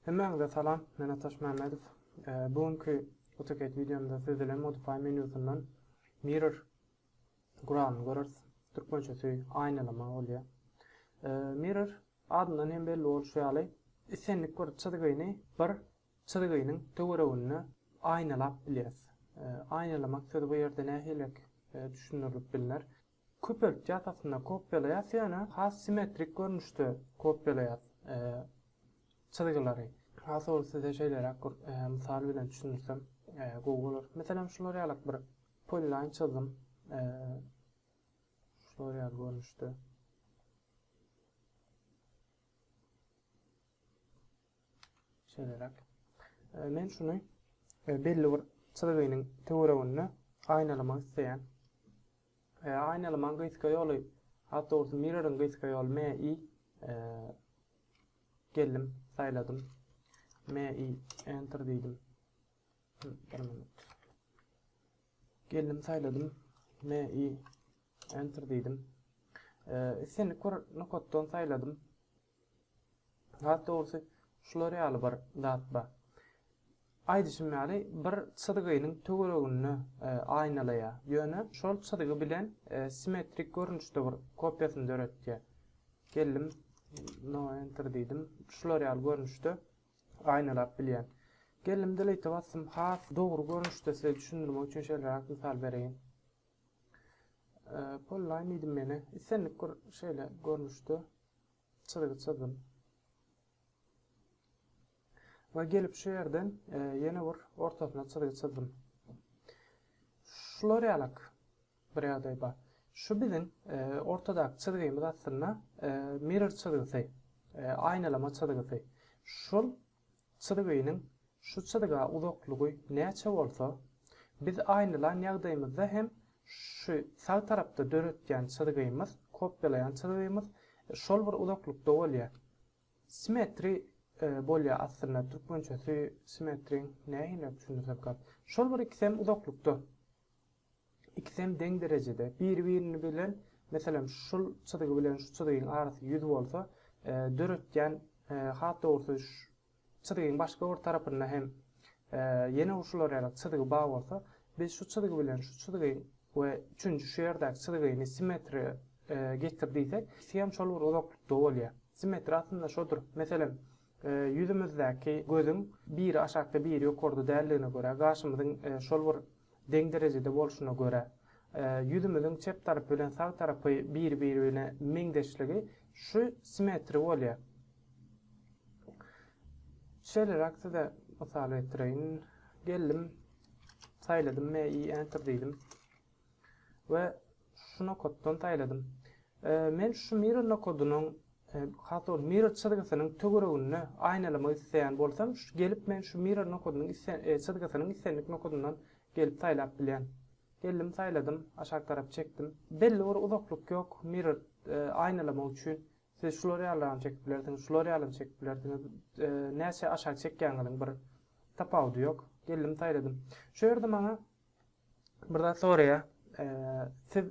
Hemmäňize salam, men Ataş Mämmedow. Bu günki AutoCAD wideomda siz bilen Modify menýusyndan Mirror guralyny göreris. Türkmençesi aýnalama bolýar. Mirror adyndan hem belli bolşy ýaly, islendik bir çyzgyny bir çyzgynyň töwereginde aýnalap bilýäris. Aýnalamak sözi bu ýerde nähiliräk düşündirilip bilner? Köpeltgi atasynda kopýalaýas ýöne has simmetrik görnüşde kopýalaýas çyzgylary. Has owal size şeýleräk bir mysal bilen düşündirsem gowy bolar. Meselem şular ýalak bir polilaýn çyzdym. Şular ýaly görnüşde. Şeýleräk. Men şuny belli bir çyzgynyň töwereginde aýnalamak isleýän. E, aýnalamaň gysga ýoly. Awtobusy Mirror-yň gysga ýoly MI e, geldim, saýladym. MI enter diýdim. Bir minut. Geldim, saýladym. MI enter diýdim. E, islendik bir nokatdan saýladym. Has dogrusy, şular ýaly bir zat bar. Aýdyşym ýaly, bir çyzgynyň töwereginde aýnalaýar, ýöne şol çyzgy bilen simmetrik görnüşde bir kopiýasyny döretýär. Geldim, no enter diýdim. Şular ýaly görnüşde aýnalap bilýän. Geldim delete basdym. Has dogry görnüşde size düşündirmek üçin şeýleräk mysal bereýin. Polline diýdim meni. Islendik bir şeýle görnüşde çyzygy çyzdym. Ve gelip şu ýerden e, ýene bir ortasyna çyzygy çyzdym. Şular ýalak bir ýagdaý bar. Şu biziň e, ortadaky çyzgymyz aslynda e, mirror çyzgysy, e, aýnalama çyzgysy. Şol Çyzgynyň şu çyzga uzaklygy näçe bolsa, biz aýnylan ýagdaýymyzda hem şu sag tarapda döretýän çyzgymyz, kopýalaýan çyzgymyz şol bir uzaklykda bolýar. Simetri bolýar aslynda, türkmençesi simetriň nähiliräk düşündirsem kak. Şol bir ikisem uzaklykda. Ikisem deň derejede, biri-biriniň bilen, meselem, şul çyzgy bilen şu çyzgyň arasy ýüz bolsa, döretýän, has dogrusy, çyzgyň başga bir tarapynda hem ýene şular ýaly çyzgy bar bolsa, biz şu çyzgy bilen şu çyzgyň we üçünji şu ýerdäki çyzgyny simmetriýa getir diýsek, ikisem şol bir uzaklykda bolýar. Simmetriýa aslynda şodur. Meselem, ýüzümizdäki gözüň biri aşakda, biri ýokarda däldigine görä, gaşymyzyň şol bir deň derejede bolşuna görä, ýüzümiziň çep tarapy bilen sag tarapy bir-birine meňzeşligi şu simetri bolýar. Şeýleräk size mysal getireýin. Geldim, saýladym, MI Enter diýdim. We Şu nokatdan saýladym. Men şu mirror nokadynyň, has dogry mirror çyzgysynyn töwereginde aýnalamak isleýän bolsam, gelip men şu mirror nokadynyň çyzgysynyň islendik nokadyndan gelip saýlap bilýän. Geldim saýladym, aşak tarap çekdim. Belli bir uzaklyk ýok mirror aýnalamak üçin. Siz şular ýalylaram çekip bilersiňiz, şular ýalam çekip bilersiňiz. Näçe aşak çekýäňiziň bir tapawudy ýok. Geldim saýladym. Şu ýerde maňa Bir zat soraýa, siz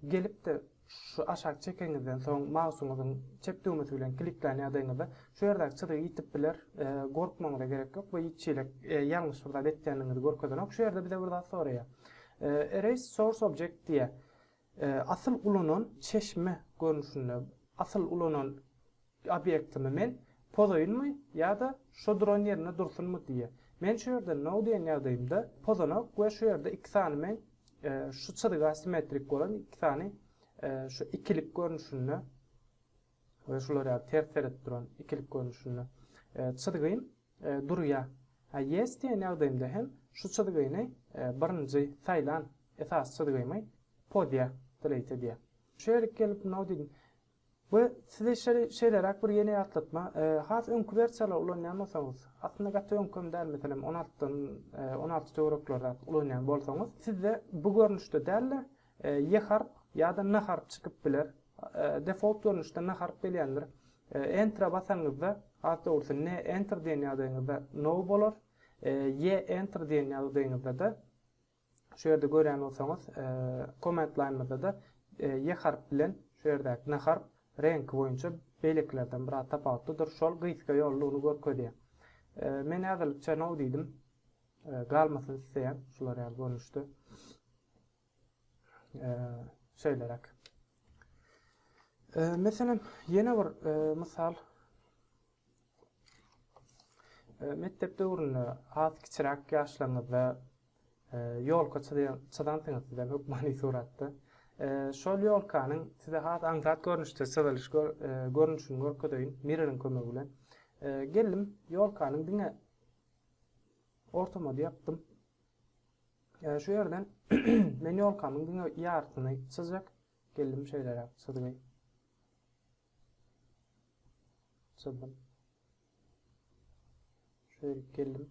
gelipde şu aşak çekeňizden soň mausuňyzyň çep düwmesi bilen kliklän ýagdaýyňyzda şu ýerdäki çyzygy ýitip biler, gorkmagyňyza gerek ýok, bu hiç hili ýalňyş bir zat etýändigiňizi görkezenok. Şu ýerde bize bir zat soraýa, Erase source object diýä. Asyl ulanan çeşme görnüşinde asyl ulanan obýektimi men pozaýynmy ýa-da şo duran ýerinde dursunmy diýýär. Men şu ýerde no diýen ýagdaýymda pozanok we şu ýerde iki sany men şu çyzyga simmetrik bolan iki sany şu ikilik görnüşinde we şular ýaly ters seredip duran ikilik görnüşinde çyzgym durýar. A ýes diýen ýagdaýymda hem şu çyzgyny birinji saýlan esasy çyzgymy pozýar, delete edýär. Şeýlelik gelip now diýdim. We size şeýleräk bir ýene ýatlatma, has öňki wersiýalary ulanýan bolsaňyz, aslynda gaty öňki hem däl, meselem, on altydan on alty töwerekleri zat ulanýan bolsaňyz, sizde bu görnüşde däl-de, Ýe harp ýa-da na harp çykyp biler. Defolt görnüşde na harp gelýändir. Enter-a basaňyzda, has dogrusy ne enter diýen ýagdaýyňyzda no bolar. Ýe enter diýen ýagdaýyňyzda-da, şu ýerde görýän bolsaňyz, command line-myzda-da ýe harp bilen şu ýerdäki na harp reňki boýunça beýlekilerden biraz tapawutlydyr. Şol gysga ýolly uly görkezýär. Men häzirlikçe no diýdim. Galmasyn isleýän şular ýaly görnüşde. şeýleräk. Meselem, ýene bir mysal. Mekdep döwründe az kiçiräk ýaşlaryňyzda ýolka çyzansyňyz size hökmany suratda. Şol ýolkanyň size has aňsat görnüşde çyzylyş görnüşini görkezeýin mirroriň kömegi bilen. Geldim, ýolkanyň diňe ortama ýapdym. Ee, şu ýerden men ýolkamyň diňe ýartyny çyzjak. Geldim şeýleräk çyzgy. Çyzdym. Şöyle geldim.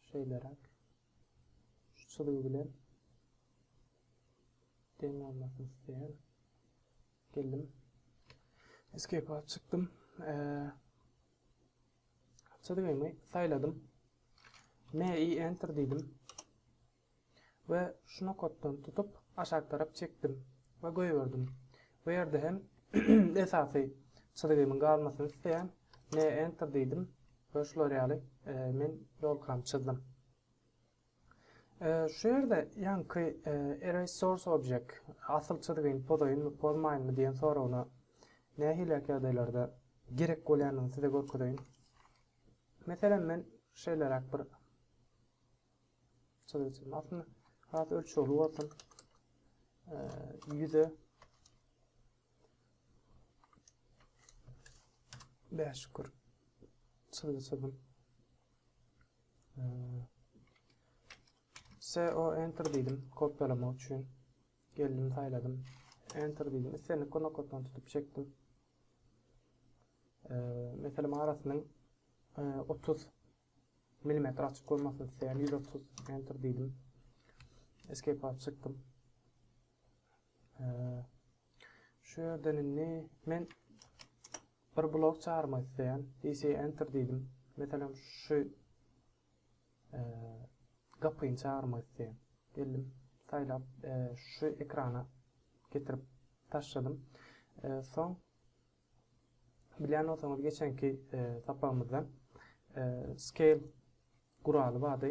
Şeýleräk. Şu çyzgy bilen deň bolmasyny isleýän. Geldim. Escape alyp çykdym. Ee, Çyzgymy saýladym. MI Enter diýdim. We şu nokatdan tutup aşak tarap çekdim we goýberdim. Bu ýerde hem esasy çyzgymyň galmasyny isleýän. MI Enter diýdim. Ve şular ýaly e, men ýolkamy çyzdym. Şu ýerde ýaňky Erase Source Object asyl çyzgyny pozaýynmy, pozmaýynmy diýen soragyna nähiliräk ýagdaýlarda gerek bolýandygyny size görkezeýin. Meselem, men şeýleräk bir çyzgy çyzmak aslynda has ölçegli bolsun. Ýüze 5 kür çyzgy çyzdym. CO enter diýdim, kopýalamak üçin. Geldim, saýladym. Enter diýdim. Islendik nokatdan tutup çekdim. Ee, meselem arasynyň 30 e, mm açyk bolmasyn isleýän 130 enter diýdim. Escape alyp çykdym. Ee, Şu ýerden indi men bir blok çagyrmak isleýän. DC enter diýdim. Meselem şu gapyny çagyrmak isleýän. Geldim, saýlap şu ekrana getirip taşladym. Soň bilýän bolsaňyz geçenki sapagymyzdan scale guraly bardy.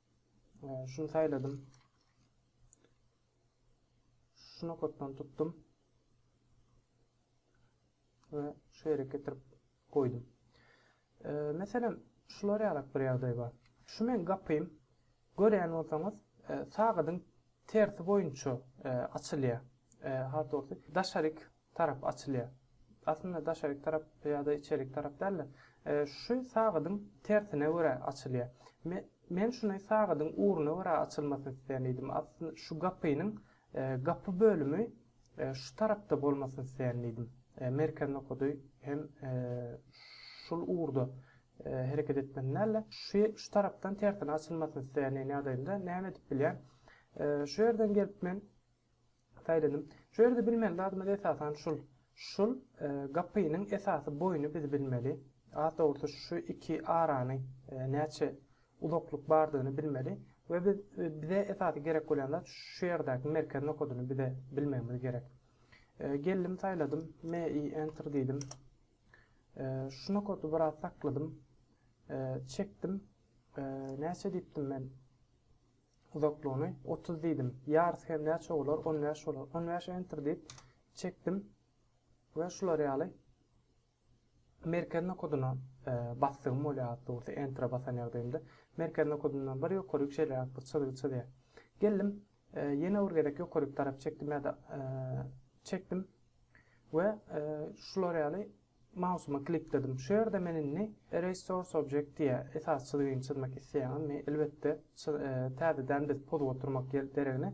Şunu saýladym. Şu nokatdan tutdum. Ve şu ýere getirip goýdum. E, meselem, şular ýalak bir ýagdaý bar. Şu men gapym, görýän bolsaňyz, e, sagadyň tersi boýunça e, açylýar. E, Hat dogry, daşaryk tarap açylýar. Aslynda daşaryk tarap ýa-da içerik tarap däl-de, şu sagadyň tersine görä açylýar. Men şuny sagadyň ugruna görä açylmasyny isleýän diýdim. Aslynda şu gapynyň gapy bölümi şu tarapda bolmasyny isleýän diýdim. Merkez nokady hem şul ugurda hereket etmesini däl-de, şu tarapdan tersine açylmasyny isleýän diýen ýagdaýynda näme edip bilýän? Şu ýerden gelip men Saýladym. Şu ýerde bilmeli zadymyz esasan şul. Şul gapynyň esasy boýuny biz bilmeli. Has dogrusy şu iki arany näçe uzaklyk bardygyny bilmeli we biz bize esasy gerek bolýan zat şu ýerdäki merkez nokadyny bize bilmegimiz gerek. Geldim saýladym. Me i enter diýdim. Şu nokady biraz sakladym. Çekdim. Näçe diýipdim men? Uzaklygyny otuz diýdim. Ýarysy hem näçe bolar? On bäş bolar. On bäş Enter diýip çekdim we şular ýaly merkez nokadyna e, basdygym bolýar dogry enterä basan ýagdaýymda merkez nokadyndan bir ýokaryk şeýleräk bir çyzgy çyzýar. Geldim, e, ýene bir gezek ýokaryk tarap çekdim ýa-da e, çekdim we e, şular ýaly Mausymy klikledim. Şu ýerde men indi Erase Source Object diýýär. Esas çyzgyny çyzmak isleýäňiz mi? Elbetde, täzeden biz pozup oturmak deregine,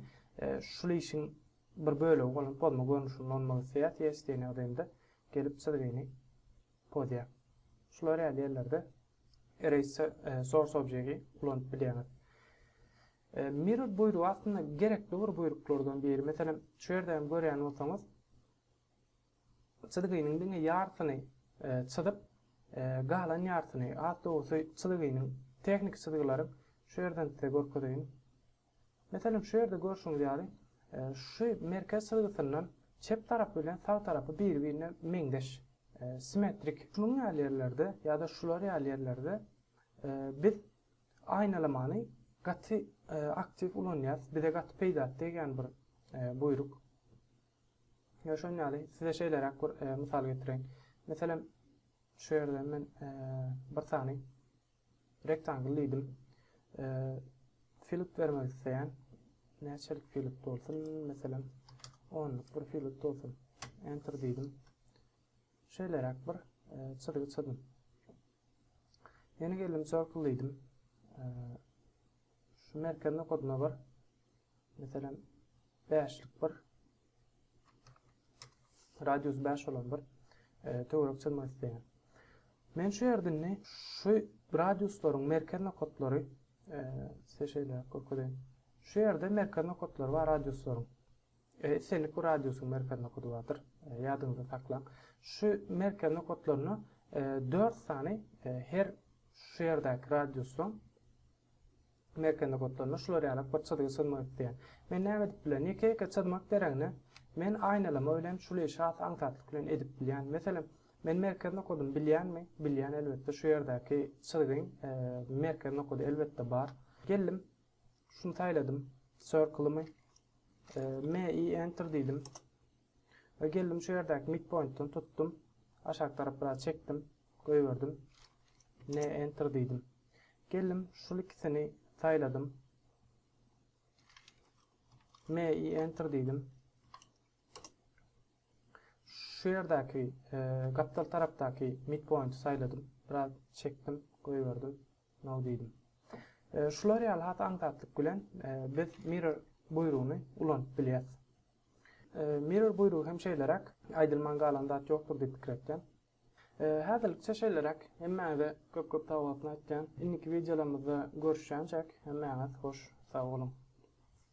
şul işiň bir bölegi bolan pozma görnüşini ulanmak isleýäs. Yes diýen ýagdaýymda gelip çyzgyny pozýar. Şular ýaly ýerlerde Erase Source Object-i ulanyp bilýäňiz. Mirror buýrugy aslynda gerekli bir buýruklardan biri. Meselem, şu ýerde hem görýän bolsaňyz, Çyzgynyň diňe ýarsyny çyzyp, galan ýarsyny, has dogrusy çyzgynyň, tehniki çyzgylaryň, şu ýerden size görkezeýin. Meselem, şu ýerde görşüňiz ýaly, şu merkez çyzgysyndan çep tarapy bilen sag tarapy bir-birine meňzeş, simmetrik. Şunuň ýaly ýerlerde ýa-da şular ýaly ýerlerde biz aýnalamany gaty aktiw ulanýarys, bize gaty peýdasy degýän bir buýruk. Ýa şonuň ýaly, size şeýleräk bir e, mysal getireýin. Meselem, şu ýerde men e, bir sany rektangl diýdim. E, filik bermek isleýän. Näçelik filik bolsun? Meselem, 10 bir filik bolsun. Enter diýdim. Şeýleräk bir çyzgy çyzdym. Ýene geldim circle diýdim. Şu merkez nokadyna bir Meselem, bäşlik bir radius bäş bolan bir e, töwerek çyzmak isleýän. Men şu ýerdini şu radiuslaryň merkez nokatlary e, size şeýle görkezeyim. Şu ýerde merkez nokatlary bar radiuslaryň. E, islendik bir radiusyň merkez nokady bardyr. E, ýadyňyzda saklaň. Şu merkez nokatlaryna e, 4 sany e, her şu ýerdäki radiusyň Merkende gotlanda şular ýalak bir çyzgy çyzmak isleýän. Men näme edip bilen? Ýeke-ýeke çyzmak deregne, men aýnalama bilen şul işi has aňsatlyk bilen edip bilýän. Meselem, men merkez nokadymy bilýänmi? Bilýän, elbetde, şu ýerdäki çyzgyň merkez nokady, elbetde, bar. Geldim, şuny saýladym, Circle-ymy. MI, Enter diýdim. We geldim şu ýerdäki midpointden tutdum. Aşak tarap biraz çekdim. Goýberdim. Ne enter diýdim. Geldim şul ikisini saýladym. Me i enter diýdim. Şu ýerdäki e, gapdal tarapdaky midpointi saýladym. Biraz çekdim, goýberdim. No diýdim. E, şular ýaly hat aňsatlyk bilen e, biz mirror buýrugyny ulanyp bilýäris. Mirror buýrugy hem şeýleräk, aýdylman galan zat ýokdur diýip pikir etýän. Häzirlikçe şeýleräk, hemmäňize köp köp sagbolasyny aýtýan, indiki wideolarymyzda görüşýänçäk, hemmäňiz hoş sag boluň.